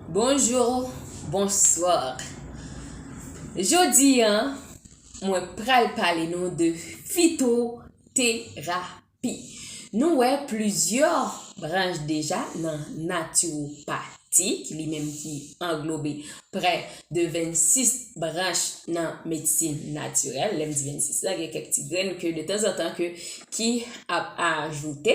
Bonjour, bonsoir Jodi an mwen pral pale nou de fitoterapi Nou wè plizyè branch deja nan naturopati ki li menm ki anglobe prè de 26 branch nan medsin natirèl Lè m di 26 la gen kèk ti grenn ke de tanzantan ke ki ap ajoute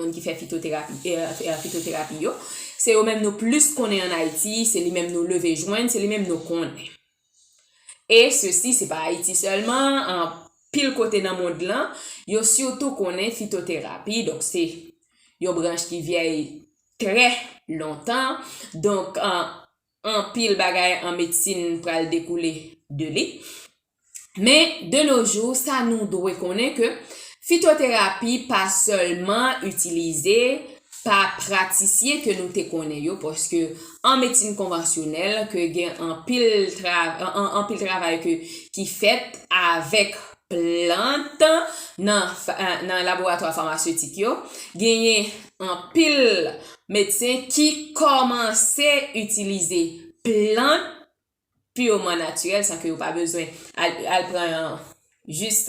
moun ki fè fitoterapi euh fitoterapi yo, se yo menm nou plis konnen an Ayiti, se li menm nou leve jwenn, se li menm nou konnen. E sesi se pa Ayiti sèlman, anpil kote nan mond lan, yo sitou konnen fitoterapi, donk se yon branch ki vyèy trè lontan, donk Anpil bagay an medsin pral dekoule de li. Men, de no jou, sa nou dwe konnen ke fitoterapi pa sèlman itilize pa pratisyen ke nou te konnen yo, paske an medsin konvansyonèl ke gen anpil anpil travay ke ki fèt avèk plant nan nan laboratwa famasetik yo, genyen anpil Medsen ki kòmanse itilize plant pireman natirèl san ke yo pa bezwen al pran jis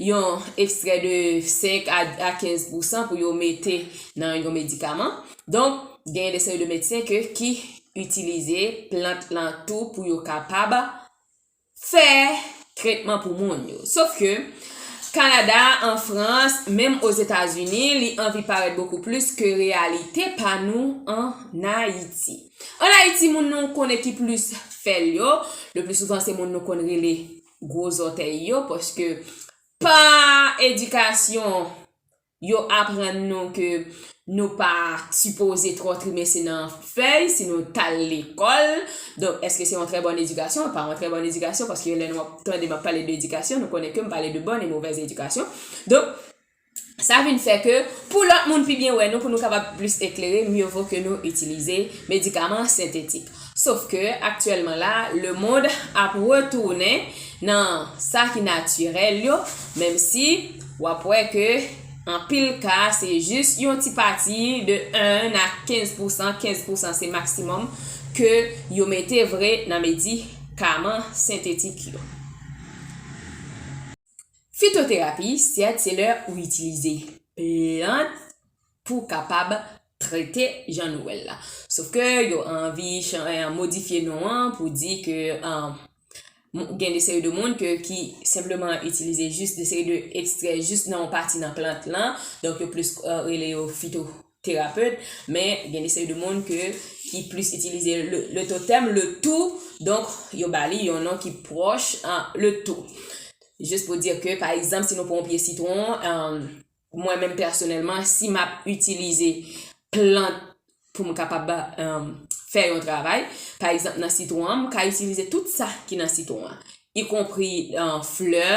yon ekstrè de 5 a 15 pousan pou yo mete nan yon medikaman. Donk, gen yon seri de medsen ke ki itilize plant lan tou pou yo kapab fè tretman pou moun yo. Sof ke, Kanada, an Frans, menm Ozetazini, li anvi parèt bokou plis ke reyalite pa nou an Ayiti. An Ayiti, moun nou konnen ki plis fè l yo, le pli souvan se moun nou konn rele gwo zòtèy yo, paske pa edikasyon, Yo aprann nou ke nou pa sipoze twò trimese nan fèy si nou t al lekòl. Donk, èske se yon trè bòn edikasyon? L pa yon trè bòn edikasyon paske lè nou ap tande m ap pale de edikasyon, nou konnen ke m pale de bòn e movèz edikasyon. Donk, sa vin fè ke pou lòt moun pi byen wè nou, pou nou kapab plis eklere, mye vo ke nou itilize medikaman sentetik. Sof ke aktyèlman la, lemond ap retounen nan sa ki natirèl yo, menm si w ap wè ke anpil ka se jis yon ti pati de 1 a 15 pousan, 15 pousan se maksimòm, ke yo mete vre nan medikaman sentetik yo. Fitoterapi, sèt, se lè ou itilize plant. pou kapab trete Jean Noël la. Sof ke yo anvi modifye non an pou di ke gen de seri de moun ke ki senpleman itilize jis de seri de ekstrè jis nan yon pati nan plant lan, donk yo plis rele yo fitoterapet, men gen de seri de moun ke ki plis itilize le totèm, le tou, donk yo ba li yon non ki pwòch le tou. Jis pou di ke pa egzanp si nou pran yon pye sitwon, Mwen menm pèsonèlman, si m ap itilize plant pou m kapab fè yon travay, pa egzanp nan sitwon an, m ka itilize tout sa ki nan sitwon an, ikonpri flè,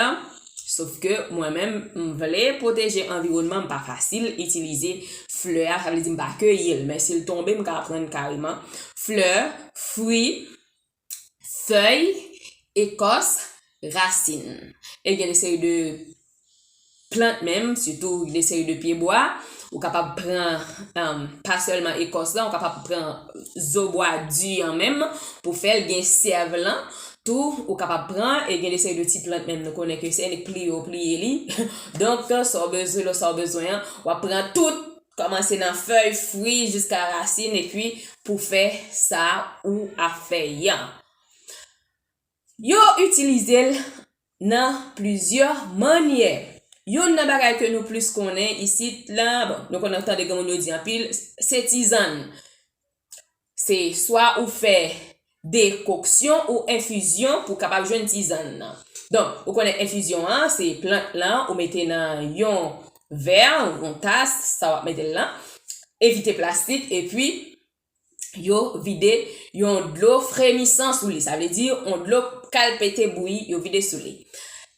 sof ke mwen menm m vle pwoteje anviwònman, m pa fasil itilize flè a, sa vle di m pa keyi l, men si l tonbe m ka pran kareman, flè, fwi. fèy, ekòs, rasin. E gen de seri de plant menm, sitou de seri de pye bwa, ou kapab pran um, pa sèlman ekòs lan, ou kapab pran zo bwa di an menm pou fèl, gen sèv lan tou ou kapab pran, e gen de seri de ti plant menm nou konnen ke se ni pliye ou pliye li. Donk, sa w bezwen lò sa w bezwen an, w ap pran tout Kòmanse nan fèy, fwi jiska rasin epi pou fè sa ou ap fè yan. Yo itilize l nan plizyè mannyè. Yonn nan bagay ke nou plis konnen isit la, bon nou konn tande gen moun yo di anpil, se tizann. Se swa ou fè dekoksyon ou enfizyon pou kapab jwenn tizann nan. Donk, ou konnen enfizyon an, se plant lan ou mete nan yon vè, yon tas, sa w ap mete l lan, evite plastik epi yo vide yon dlo fremisan sou li, sa vle di yon dlo kal pete bouyi yo vide sou li.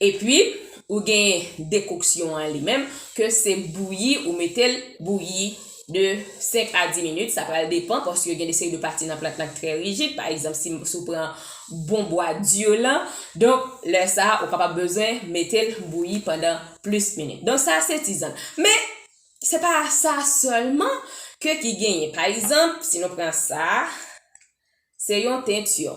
Epi, ou gen dekoksyon an li menm ke se bouyi ou mete l bouyi. de 5 a 10 minit sa pral depan paske gen de seri de pati nan plant lan ki trè rijid pa egzanp si ou pran bon bwa dur lan donk lè sa ou kapab bezwen metel bouyi pandan plis minit donk sa se tizann men se pa sa sèlman ke ki genyen pa egzanp si nou pran sa se yon teinture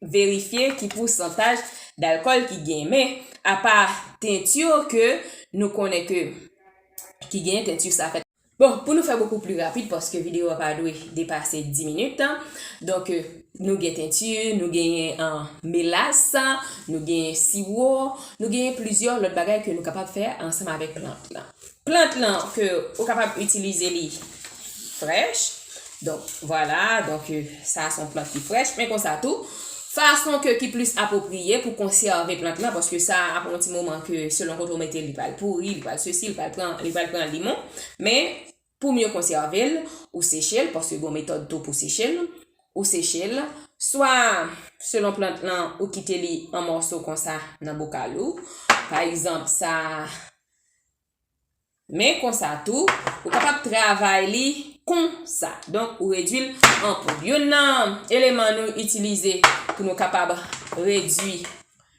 verifye ki pousantaj dalkòl ki genyen men apa teinture yo ke nou konnen ke ki genyen teinture sa fèt Bon pou nou fè bokou pli rapid paske video a pa dwe depase 10 minit donk nou gen teinture nou genyen melas nou genyen siwo nou genyen plizyè lòt bagay ke nou kapab fè ansanm avèk plant lan. Plant lan ke ou kapab itilize li frèch. Donk, vwala, donk sa son plant ki frèch. Men konsa tou, fason ke ki plis apopriye pou konsève plant lan, paske sa apre yon ti moman ke selon kote ou mete li pral pouri, li pral sesi, li pral pran limon. Men, Pou mye konsève l, ou seche l, paske gen yon metòd tou pou seche l, ou seche l, swa selon plant lan ou kite li an mòso konsa nan bokal ou, pa egzanp sa a, men konsa tou, ou kapab travay li konsa, donk ou redwi l an poud. Youn nan eleman nou itilize pou nou kapab redwi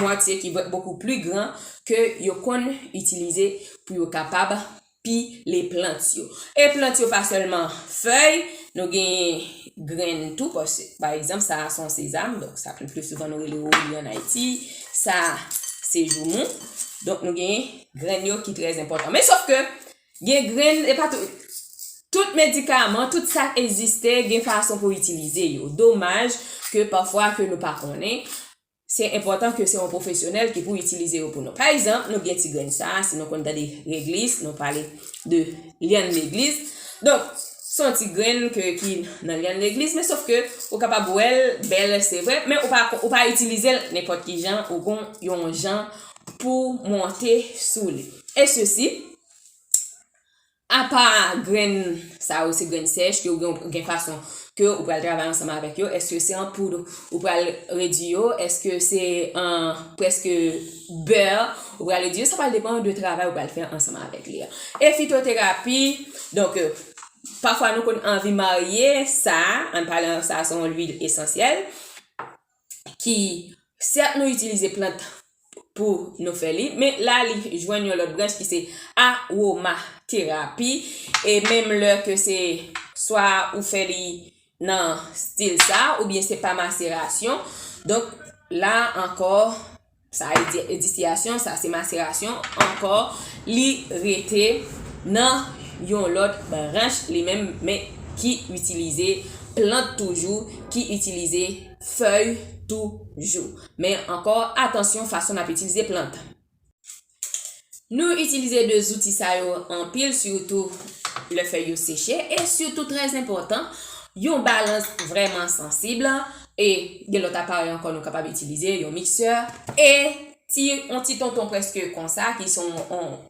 moitié ki va beaucoup plus grand ke yo konn itilize pou yo kapab pile plant yo e plant yo pa sèlman fèy nou genyen grenn tou paske pa egzanp sa a son sezam donk sa le plus souvent nou rele woubi an ayiti sa a se joumou donk nou genyen grenn yo ki trè enpòtan men sof ke gen grenn e pa tout tout medikaman tout sa k egziste gen fason pou itilize yo domaj ke pafwa ke nou pa konnen Se enpòtan ke se yon pwofesyonèl ki pou itilize yo pou nou. Pa egzanp, nou gen ti grenn sa a, si nou konn tande reglis, nou pale de lyann legliz. Donk, se yon ti grenn ke ki nan lyann legliz, men sof ke ou kapab wè l bèl, se vre, men ou pa ou pa itilize l nenpòt ki jan, ou gon yon jan pou monte sou li. E sesi. Apa grenn sa yo se grenn sèch ke ou gen gen fason ke ou pral travay ansanm avèk yo, èske se an poud ou pral redwi yo, èske se an prèske bè ou pral redwi yo, sa pral depan de travay ou pral fè ansanm avèk li a. E fitoterapi, donk euh, pafwa nou konn anvi marye sa, an palan sa se yon lwil esansyèl, ki sèt nou itilize plant pou nou fè li men la li jwenn yon lòt branch ki se aroma terapi e menm lè ke se swa ou fè li nan stil sa ou byen se pa maserasyon donk la ankò Sa e di e distiyasyon, sa se maserasyon ankò li rete nan yon lòt branch li menm men ki itilize plant toujou, ki itilize fèy toujou. Men ankò atansyon fason n ap itilize plant. Nou itilize 2 zouti sa yo anpil sitou lè fèy yo seche e sitou trèz enpòtan yon balans vrèman sansib e gen lòt aparèy ankò nou kapab itilize yon miksè e ti yon ti tonton prèske konsa ki son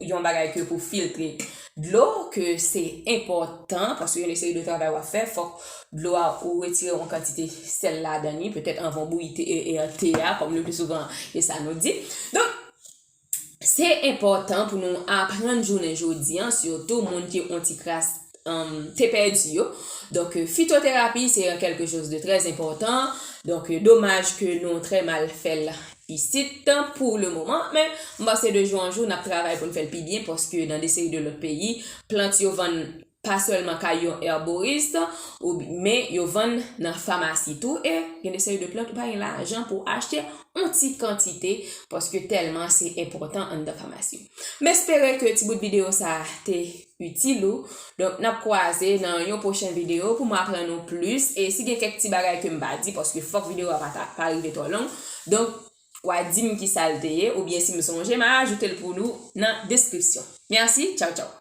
yon bagay ke pou filtre dlo ke se enpòtan paske yon seri de travay wap fè fòk dlo a ou retire yon kantite sèl ladan li petèt anvan w bouyi te a kòm le pli souvan e sa nou di donk Se enpòtan pou nou aprann jounen jodi an sitou moun ki on ti kras te pèdi yo. Donk fitoterapi se yon kelke choz de trè enpòtan. Donk domaj ke nou trè mal fèl isit pou le moman men m panse de jou an jou nap travay pou n fèl pi byen paske nan de seri de lòt peyi plant yo vann pa sèlman kay yon herborist ou men yo vann nan famasi tou e gen de seri de plant ou pa gen lajan pou achte yon ti kantite paske tèlman se enpòtan anndan famasi m espere ke ti bout videyo sa te itil ou donk n ap kwaze nan yon pwochen videyo pou m aprann ou plis e si gen kèk ti bagay ke m pa di paske fòk videyo a pa ta pa rive twò long donk w a di m ki sa l te ye oubyen si m sonje m a ajoute l pou nou nan deskripsyon mèsi tchaw tchaw.